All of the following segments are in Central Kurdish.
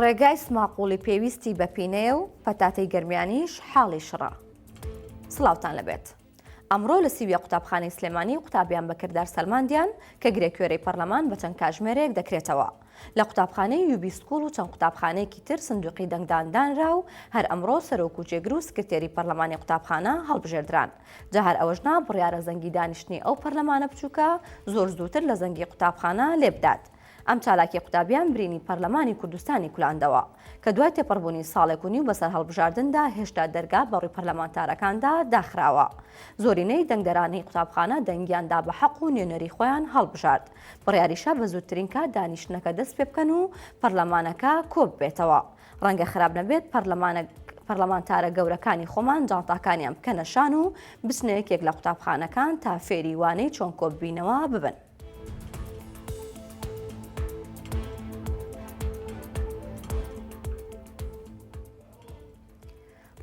ڕێگای سماقوڵی پێویستی بە پینەیە و پەتاتەی گەرمیانیش حاڵی شڕە سڵاوتان لەبێت. ئەمڕۆ لە سیویە قوتابخانەی سلێمانی قوتابیان بە کردار سەلماندیان کە گرێکوێرەی پەرلەمان بە چەند کاژمێرەیەک دەکرێتەوە لە قوتابخانەی یوبی سکوڵ و چەند قوتابخانەیەکی تر سندوقی دەنگداندانرا و هەر ئەمڕۆ سەرۆک و جێگر و سکرتێری پەرلەمانی قوتابخانە هەڵبژێردران جا هەر ئەوەش نا بڕیارە زەنگی دانیشتنی ئەو پەرلەمانە بچووکە زۆر زووتر لە زەنگی قوتابخانە لێبدات. ئەم چالاکی قوتابیان برینی پەرلەمانی کوردستانی کولاندەوە، کە دوای تێپەڕبوونی ساڵێک و نیو بەسەر هەڵبژاردندا هێشتا دەرگا بەڕووی پەرلەمانتارەکاندا داخراوە. زۆرینەی دەنگدەرانی قوتابخانە دەنگیان دا بە حەق و نوێنەری خۆیان هەڵبژارد. بڕیاریشە بە زووترین کات دانیشتنەکە دەست پێبکەن و پەرلەمانەکە کۆببێتەوە. ڕەنگە خراپ نەبێت پەرلەمانە پەرلەمانتارە گەورەکانی خۆمان جانتاکانیان بکەنە شان و بچنە یەکێک لە قوتابخانەکان تا فێری وانەی چۆن کۆببینەوە ببن.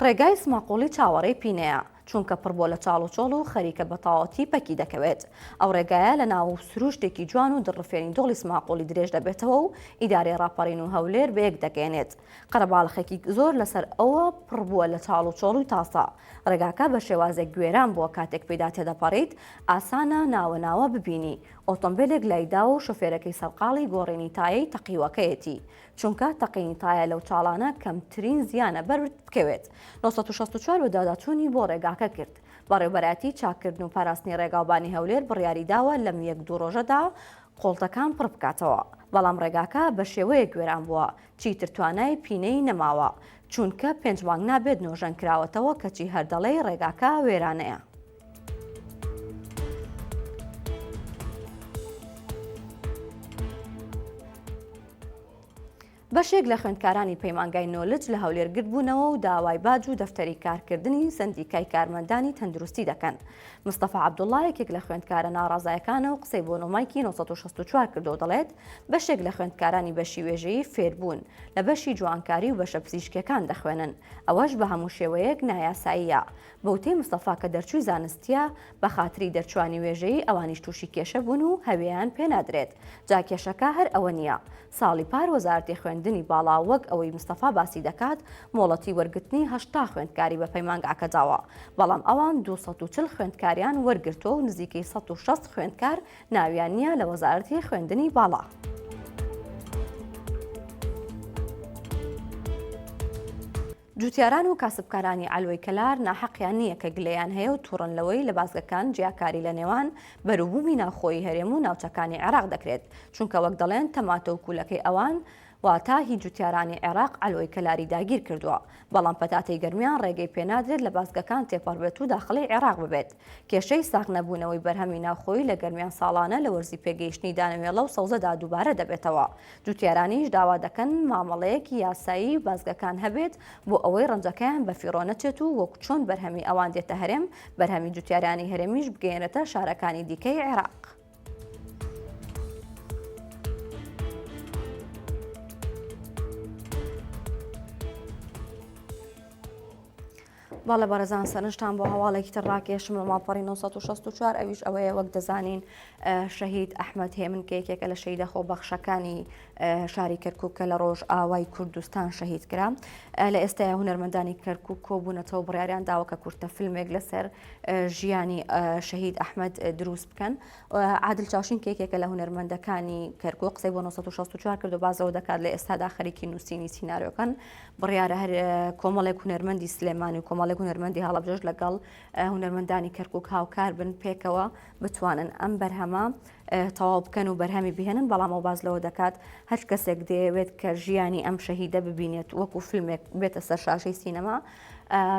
ڕێگای سماقوڵی چاوەڕێی پینەیە، چونکە پڕ بۆ لە چاڵ و چۆڵ و خەریکە بە تەواوەتی پەکی دەکەوێت. ئەو ڕێگایە لە ناو سرووشتێکی جوان و دڵڕفێنی دۆڵی سماقوڵی درێژ دەبێتەوە و ئیدارەی ڕاپەڕین و هەولێر بەیەک دەگەیەنێت. قەرەباڵخێکی زۆر لەسەر ئەوە پڕ بووە لە چاڵ و چۆڵی تاسە. ڕێگاکە بە شێوازێک گوێران بووە کاتێک پێیدا تێدەپەڕیت ئاسانە ناوە ناوە ببینی ئۆتۆمبێلێک لایداوە و شۆفێرەکەی سەرقاڵی گۆڕینی تایەی تەقیوەکەیەتی. چونکە تەقینی تایە لەو چاڵانە کەمترین زیانە بەرت بکەوێت، نۆ سەد و شەست و چوار بەدواداچوونی بۆ ڕێگاکە کرد. بەڕێوبەرایەتی چاککردن و پاراستنی ڕێگاوبانی هەولێر بڕیاریداوە لەم یەک دوو ڕۆژەدا قۆڵتەکان پڕبکاتەوە، بەڵام ڕێگاکە بەشێوەیەک وێران بووە چیتر توانای پینەی نەماوە، چوونکە پێنج مانگ نابێت نۆژەنکراوەتەوە کەچی هەر دەڵێی ڕێگاکە وێرانەیە. بەشێک لە خوێندکارانی پەیمانگای نۆلج لە هەولێر گردبوونەوە و داوای باج و دەفتەری کارکردنی سندیکای کارمەندانی تەندروستی دەکەن مستەفا عبدوڵڵا یەکێک لە خوێندکارە ناڕازایەکانە و قسەی بۆ نۆمایکی 1964 کردو دەڵێت بەشێک لە خوێندکارانی بەشی وێژەیی فێربوون لە بەشی جوانکاری و بەشە پزیشکەکان دەخوێنن ئەوەش بە هەموو شێوەیەک نایاساییە بە وتەی مستەفا کە دەرچووی زانستییە، بە خاتری دەرچووانی وێژەیی ئەوانیش تووشی کێشە بوون و هەوێیان پێ نادرێت، جا کێشەکە هەر ئەوە نییە. ساڵی پار وەزارەتی خوێندنی باڵا وەک ئەوەی مستەفا باسی دەکات مۆڵەتی وەرگرتنی هەشتا خوێندکاری بە پەیمانگاکە داوە، بەڵام ئەوان دوو سەد و چل خوێندکاریان وەرگرتووە و نزیکەی سەد و شەست خوێندکار ناویان نییە لە وەزارەتی خوێندنی باڵا. جوتیاران و کاسبکارانی عەلوەی کەلار ناحەقیان نییە کە گلەیان هەیە و توڕن لەوەی لە بازگەکان جیاکاری لە نێوان بەروبومی ناوخۆیی هەرێم و ناوچەکانی عێراق دەکرێت چونکە وەک دەڵێن تەماتە و کوولەکەی ئەوان واتا هی جوتیارانی عێراق عەلوەی کەلاری داگیر کردووە بەڵام پەتاتەی گەرمیان ڕێگەی پێنادرێت لە بازگەکان تێپەڕبێت و داخڵی عێراق ببێت کێشەی ساغ نەبوونەوەی بەرهەمی ناوخۆیی لە گەرمیان ساڵانە لە وەرزی پێگەیشتنی دانەوێڵە و سەوزەدا دووبارە دەبێتەوە جوتیارانیش داوا دەکەن مامەڵەیەکی یاسایی بازگەکان هەبێت بۆ ئەوەی ڕەنجەکەیان بە فیڕۆ نەچێت و وەک چۆن بەرهەمی ئەوان دێتە هەرێم، بەرهەمی جوتیارانی هەرێمیش بگەیەنرێتە شارەکانی دیکەی عێراق. بەڵێ بەڕێزان سەرنجتان بۆ هەواڵێکی تر ڕاکێشم لە ماڵپەڕی 1964 ئەویش ئەوەیە وەک دەزانین شەهید ئەحمد هێمن کە یەکێکە لە شەیدە خۆ بەخشەکانی شاری کەرکک کە لە ڕۆژ ئاوای کوردستان شەهید کرا لە ئێستا هونەرمەندانی کەرکک کۆبوونەتەوە بڕیاریان داوەکە کورتە فیلمێک لەسەر ژیانی شەهید ئەحمد دروست بکەن عادل چاشین کێکێکە لە هونەرمەندەکانی کەرکک قسەی بۆ 1964 کرد و بازەوە دەکات لە ئێستادا خەریکی نووسینی سینناریۆکان بڕیارە هەر کۆمەڵێک هونەرمەندی سلێمانی و کۆمەڵێک هونەرمەندی هەڵەبجەش لەگەڵ هونەرمەندانی کەرکک هاوکار بن پێکەوە بتوانن ئەم بەرهەمە تەواو بکەن و بەرهەمی بهێنن بەڵام ئەو باز لەوە دەکات هەر کەسێک دەیەوێت کە ژیانی ئەم شەهیدە ببینێت وەکو فیلمێک بێتە سەر شاشەی سینەما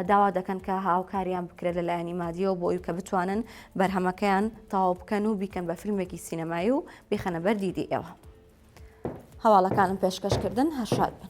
داوا دەکەن کە هاوکاریان بکرێت لە لایەنی مادیەوە بۆی کە بتوانن بەرهەمەکەیان تەواو بکەن و بیکەن بە فیلمێکی سینەمایی و بیخەنە بەر دیدی ئێوە. هەواڵەکانم پێشکەشکردن هەرشاد بن.